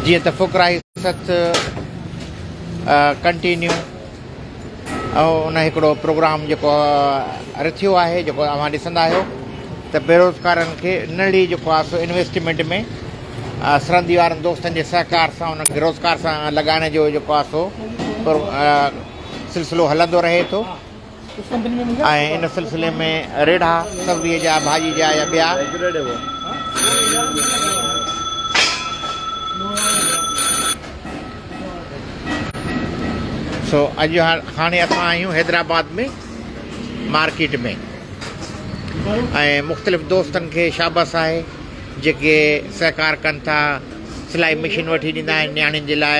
جيئن ته فقراء ست ڪنٽينيو ان هڪڙو پروگرام جيڪو رٿيو آهي جيڪو اوهان ڏسندا آهيو ته بيروزگارن کي نڙي جيڪو آهي سو انويسٽمينٽ ۾ سرندي وارن دوستن جي سهڪار سان ان کي روزگار سان لڳائڻ جو جيڪو آهي سو سلسلو هلندو رهي ٿو ۽ ان سلسلي ۾ ريڙها سبزيء جا، ڀاڄي جا يا ٻيا سو اڄ هاڻي اسان آهيون حيدرآباد ۾ مارڪيٽ ۾ ۽ مختلف دوستن کي شابس آهي جيڪي سهڪار ڪن ٿا سلائي مشين وٺي ڏيندا آهن نياڻين جي لاء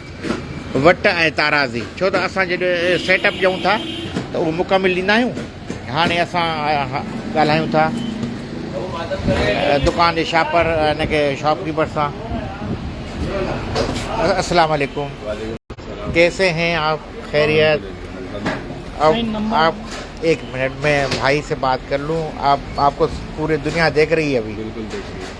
وٽ ۽ تارازي ڇو ته اسان جڏهن سيٽ اپ ڏيون ٿا ته اهو مڪمل ڏيندا آهيون هاڻي اسان ڳالهايون ٿا دڪان جي شاپر ان کي شاپ ڪيپر سان السلام عليڪم ڪيسي هين آپ خيريت آپ ايڪ منٽ ۾ ڀائي سي بات ڪر لون آپ آپ ڪو پوري دنيا ديک رهي هي ابهي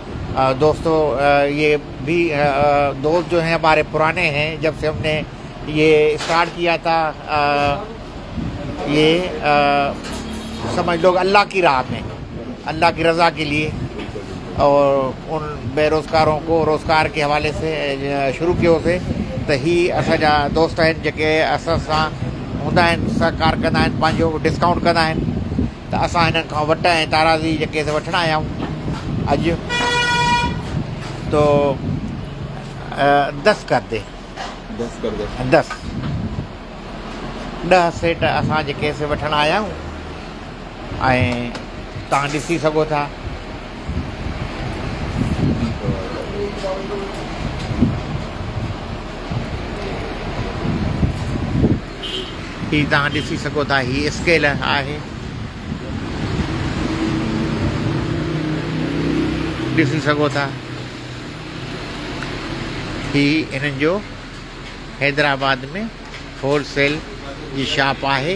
دوستو يي بھي دوست جو ھين ھماري پرانے ھين جب سي ھم ني يي اسٽارٽ ڪيا تا يي سمجھ لوگ الله ڪي راه مي الله ڪي رضا ڪي ليي اور ان بي روزگارون ڪو روزگار ڪي حوالي سي شروع ڪيو سي ته ھي اسان جا دوست ھين جيڪي اسان سان ھوندا ھين سھڪار ڪندا ھين پنھنجو ڊسڪائونٽ ڪندا ھين ته اسان هنن کان وٽ ۽ تارازي جا ڪيس وٺڻ آيا آهيون. اڄ تو دس ڪر دي. دس ڪر دي. دس. ڏهه سيٽ اسان جي ڪيس وٺڻ آيا آهيون ۽ تان ڏسي سگهو ٿا. هي توهان ڏسي سگهو ٿا هي اسڪيل آهي ڏسي سگهو ٿا هي انهن جو حيدرآباد ۾ هول سيل جي شاپ آهي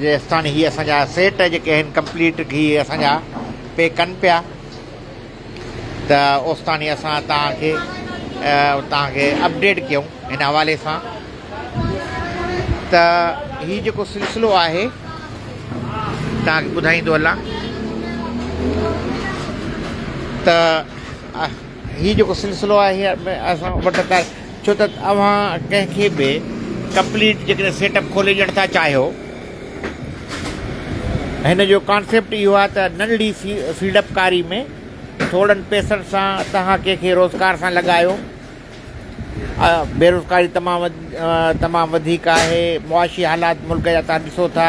جيستان هي اسان جا سيٽ جيڪي آهن ڪمپليٽ هي اسان جا پي ڪن پيا ته اوستاني اسان تان کي تان کي اپڊيٽ ڪيون هن حوالي سان ته هي جيڪو سلسلو آهي تان کي ٻڌائيندو هلان ته هي جيڪو سلسلو آهي اسان وٽ ته ڇو ته اوهان ڪنهن کي به ڪمپليٽ جيڪڏهن سيٽ اپ کولي ڏيڻ ٿا چاهيو هن جو ڪانسيپٽ اهو آهي ته ننڍڙي فيلڊ اپ ڪاري ۾ ٿورڙن پيسن سان توهان ڪنهن کي روزگار سان لڳايو بيروزگاري تمام تمام وڌيڪ آهي معاشي حالات ملڪ جا تان ڏسو ٿا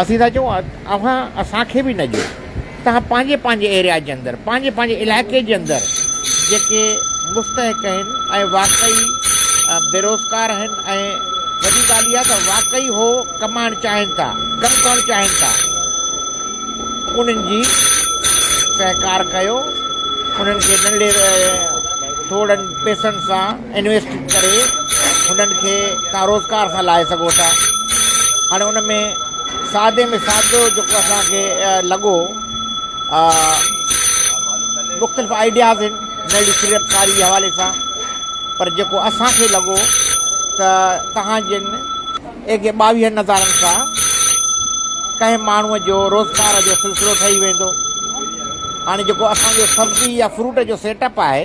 اسين ٿا چئون اوهان اسان کي به نه ڏيو توهان پنهنجي پنهنجي ايريا جي اندر پنهنجي پنهنجي علائقي جي اندر جيڪي مستحق آهن ۽ واقعي بيروزگار آهن ۽ وڏي ڳالهه اها ته واقعي هو ڪمائڻ چاهين ٿا ڪم ڪرڻ چاهين ٿا انهن جي سهڪار ڪيو انهن کي ننڍڙي ٿورڙن پئسن سان انويسٽ ڪري انهن کي تهان روزگار سان لاهي سگهو ٿا هاڻي ان ۾ سادي ۾ سادو جيڪو اسان کي لڳو مختلف آئيڊياز آهن نئي سيڙپڪاري جي حوالي سان پر جيڪو اسانکي لڳو ته تهان جن ايڪ ٻاويهن نظارن سان ڪنهن ماڻهوء جو روزگار جو سلسلو ٺهي ويندو هاڻي جيڪو اسانجو سبزي يا فروٽ جو سيٽ اپ آهي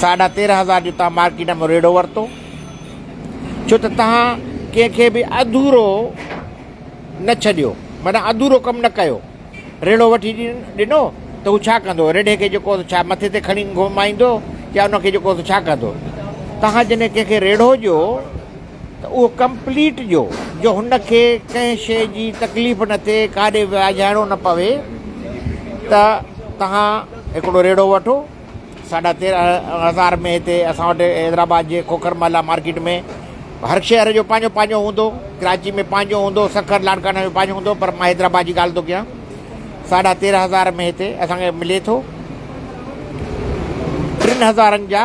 ساڍا تيرهن هزار جو تان مارڪيٽ ۾ ريڙهو ورتو ڇو ته تان ڪنهن کي به اڌورو نه ڇڏيو منا اڌورو ڪم نه ڪيو ريڙهو وٺي ڏنو ته هو ڇا ڪندو ريڙهي کي جيڪو ڇا مٿي تي کڻي گهمائيندو يا ان کي جيڪو ڇا ڪندو تان جنهن ڪنهن کي ريڙهو ڏيو ته اهو ڪمپليٽ ڏيو جو هن کي ڪنهن شيء جي تڪليف نه ٿئي ڪاڏي ويجهائڻو نه پوي ته توهان هڪڙو ريڙهو وٺو ساڍا تيرهن هزار ۾ هتي اسان وٽ حيدرآباد جي کوکر محلا مارڪيٽ ۾ هر شهر جو پنهنجو پنهنجو هوندو ڪراچي ۾ پنهنجو هوندو سکر لاڙڪاڻي ۾ پنهنجو هوندو پر مان حيدرآباد جي ڳالهه ٿو ڪيان ساڍا تيرهن هزار ۾ هتي اسان کي ملي ٿو ٽن هزارن جا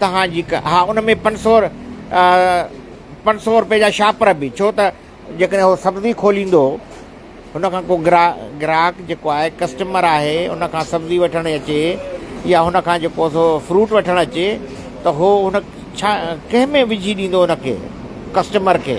توهان جي ڪا ها ان ۾ پنج سو پنج سو روپئي جا شاپر به ڇو ته جيڪڏهن هو سبزي کوليندو هن کان ڪو گرا گراهڪ جيڪو آهي ڪسٽمر آهي ان کان سبزي وٺڻ اچي يا هن کان جيڪو سو فروٽ وٺڻ اچي ته هو هن ڇا ڪنهن ۾ وجهي ڏيندو ان کي ڪسٽمر کي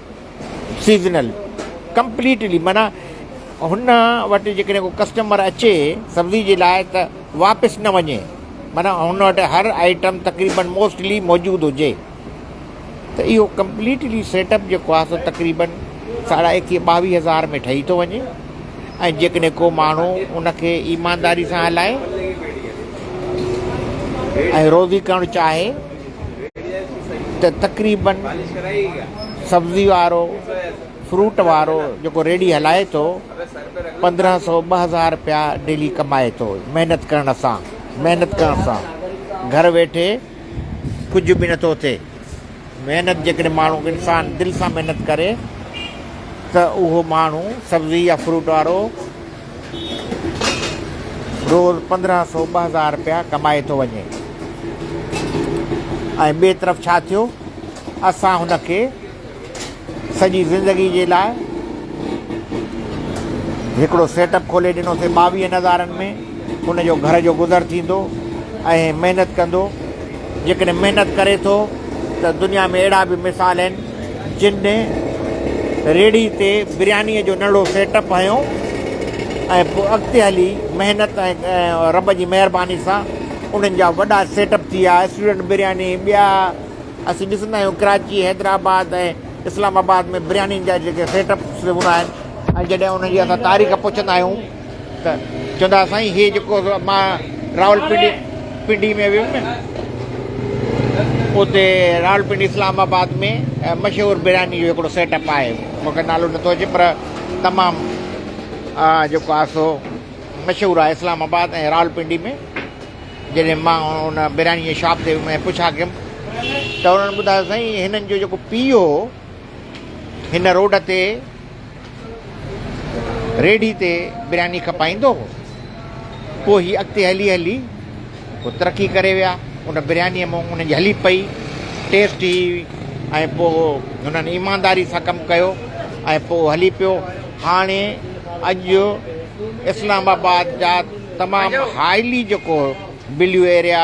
سيزنل ڪمپليٽلي معنيٰ هن وٽ جيڪڏهن ڪو ڪسٽمر اچي سبزي جي لاء ته واپس نه وڃي معنيٰ هن وٽ هر آئٽم تقريبن موسٽلي موجود هجي ته اهو ڪمپليٽلي سيٽ اپ جيڪو آهي سو تقريبن ساڍا ايڪيهه ٻاويهه هزار ۾ ٺهي ٿو وڃي ۽ جيڪڏهن ڪو ماڻهو ان کي ايمانداري سان هلائي ۽ روزي ڪرڻ چاهي ته تقريباً سبزي وارو فروٽ وارو جيڪو ريڙهي هلائي ٿو پندرهن سو ٻه هزار رپيا ڊيلي ڪمائي ٿو محنت ڪرڻ سان محنت ڪرڻ سان گهر ويٺي ڪجهه به نٿو ٿئي محنت جيڪڏهن ماڻهو انسان دل سان محنت ڪري ته اهو ماڻهو سبزي يا فروٽ وارو روز پندرهن سو ٻه هزار رپيا ڪمائي ٿو وڃي ۽ ٻئي طرف ڇا ٿيو اسان هن کي سڄي زندگي جي لاء هڪڙو سيٽ اپ کولي ڏنوسي ٻاويهن هزارن ۾ ان جو گهر جو گذر ٿيندو ۽ محنت ڪندو جيڪڏهن محنت ڪري ٿو ته دنيا ۾ اهڙا به مثال آهن جن ڏينهن ريڙهي تي بريانيء جو نڙو سيٽ اپ هنيو ۽ پوء اڳتي هلي محنت ۽ رب جي مهرباني سان انهن جا وڏا سيٽ اپ ٿي ويا، اسٽوڊنٽ برياني، ٻيا اسين ڏسندا آهيون ڪراچي، حيدرآباد ۽ اسلام آباد ۾ بريانين جا جيڪي سيٽ اپس هوندا آهن ۽ جڏهن انهن جي اسان تاريخ پڇندا آهيون. ته چوندا سائين هي جيڪو مان راول پنڊي پنڊي ۾ ويم نه اتي راول پنڊي اسلام آباد ۾ مشهور برياني جو هڪڙو سيٽ اپ آهي مونکي نالو نٿو اچي پر تمام جيڪو آهي سو مشهور آهي اسلام آباد ۽ راول پنڊي ۾ جڏهن مان ان برياني جي شاپ تي ويم پڇا ڪيم ته انهن ٻڌايو سائين هنن جو جيڪو پيء هو هن روڊ تي ريڍي تي برياني کپائيندو هو. پوء هي اڳتي هلي هلي پوء ترقي ڪري ويا. ان بريانيء مون انهن جي هلي پئي، ٽيسٽ هئي ۽ پوء هنن ايمانداري سان ڪم ڪيو ۽ پوء هلي پيو. هاڻي اڄ اسلام آباد جا تمام هائلي جيڪو بليو ايريا،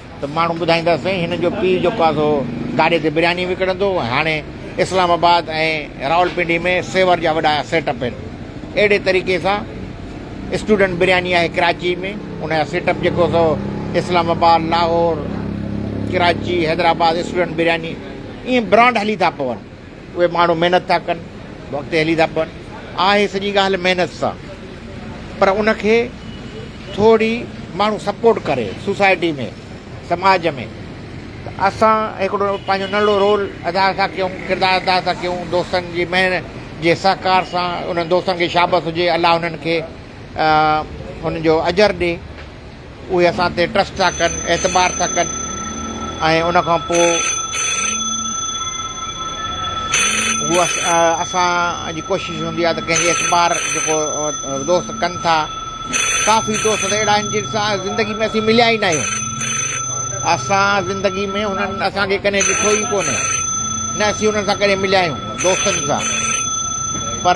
ته ماڻهو ٻڌائيندا سائين هن جو پيء جيڪو آهي سو گاڏي تي برياني وڪڻندو هو ۽ هاڻي اسلام آباد ۽ راولپنڊي ۾ سيور جا وڏا سيٽ اپ آهن اهڙي طريقي سان اسٽوڊنٽ برياني آهي ڪراچي ۾ ان جا سيٽ اپ جيڪو سو اسلام آباد لاهور ڪراچي حيدرآباد اسٽوڊنٽ برياني ائين برانڊ هلي ٿا پون اهي ماڻهو محنت ٿا ڪن اڳتي هلي ٿا پون آهي سڄي ڳالهه محنت سان پر ان کي ٿوري ماڻهو سپورٽ ڪري سوسائٽي ۾ سماج ۾ ته اسان هڪڙو پنهنجو ننڍڙو رول ادا ٿا ڪيون ڪردار ادا ٿا ڪيون دوستن جي مهر جي سهڪار سان انهن دوستن کي شابس هجي الله انهن کي انهن جو اجر ڏي اهي اسان تي ٽرسٽ ٿا ڪن، اعتبار ٿا ڪن ۽ ان کان پوء هو اسان جي ڪوشش هوندي آهي ته ڪنهن جي اعتبار جيڪو دوست ڪن ٿا ڪافي دوست ته اهڙا آهن جن سان زندگي ۾ اسين مليا ئي ناهيون اسان زندگي ۾ هنن اسانکي ڪڏهن ڏٺو ئي ڪونهي نه اسين هنن سان ڪڏهن مليا آهيون دوستن سان پر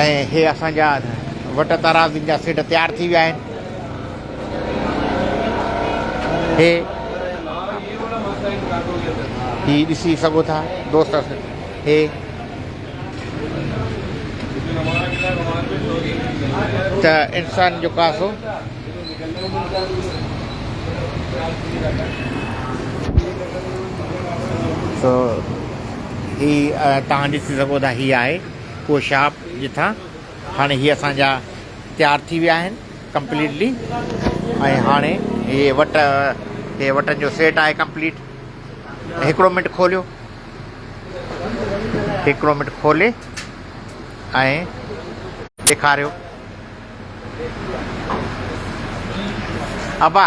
۽ هي اسان جا وٽ ترازين جا سيٽ تيار ٿي ويا آهن هي هي ڏسي سگهو ٿا دوست هي ته انسان جو ڪاسو سو هي توهان ڏسي سگهو ٿا هي آهي اهو شاپ جتان هاڻي هي اسان جا تيار ٿي ويا آهن ڪمپليٽلي ۽ هاڻي هي وٽ هي وٽن جو سيٽ آهي ڪمپليٽ هڪڙو منٽ کوليو هڪڙو منٽ کولي ۽ ڏيکاريو ابا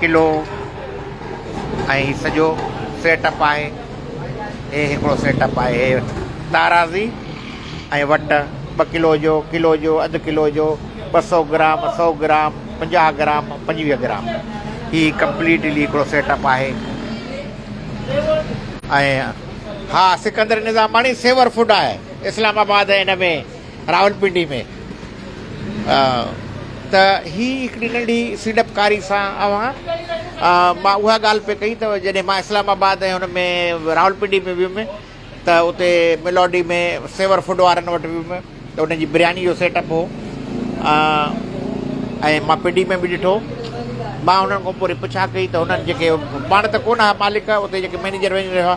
قلعو ۽ هي سڄو سيٽ اپ آهي هي هڪڙو سيٽ اپ آهي هي تارازي ۽ وٽ ٻه ڪلو جو ڪلو جو اڌ ڪلو جو ٻه سو گرام سو گرام پنجاهه گرام پنجويهه گرام هي ڪمپليٽلي هڪڙو سيٽ اپ آهي ۽ ها سڪندر نظاماڻي سيور فوڊ آهي اسلام آباد هن ۾ راولپنڊي ۾ ته هي هڪڙي ننڍي سيڙپڪاري سان اوهان مان اها ڳالهه پئي ڪئي ته جڏهن مان اسلام آباد ۽ ان ۾ راولپنڊي ۾ ويم ته اتي ميلوڊي ۾ سيور فوڊ وارن وٽ ويم ته انهن جي برياني جو سيٽ اپ هو ۽ مان پنڊي ۾ به ڏٺو مان هنن کان پوري پڇا ڪئي ته هنن جيڪي پاڻ ته ڪونه مالڪ اتي جيڪي مينيجر وينيجر هئا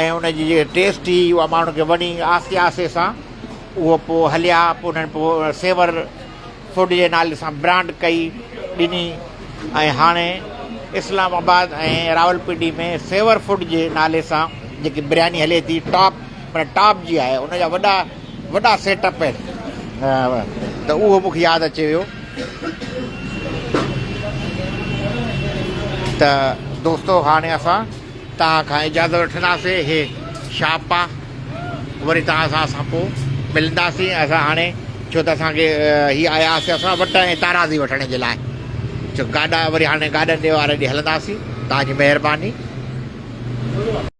۽ ان جي جيڪا ٽيسٽ هئي اها ماڻهن کي وڻي آهستي آهستي سان اهو پوء هليا پوء انهن پوء سيور فوڊ جي نالي سان برانڊ ڪئي ڏني ۽ هاڻي اسلام آباد ۽ راولپنڊي ۾ سيور فوڊ جي نالي سان جيڪي برياني هلي ٿي ٽاپ مطلب ٽاپ جي آهي ان جا وڏا وڏا سيٽ اپ آهن ته اهو مون کي ياد اچي ويو ته دوستو هاڻي اسان توهان کان اجازت وٺنداسين هي شاپا وري توهان سان اسان پو ملنداسين اسان هاڻي ڇو ته اسان کي هي آيا هئاسين اسان وٽ ۽ تارازي وٺڻ جي لاء چو گاڏا وري هاڻي گاڏن ڏي واري ڏي هلنداسين توهان جي مهرباني.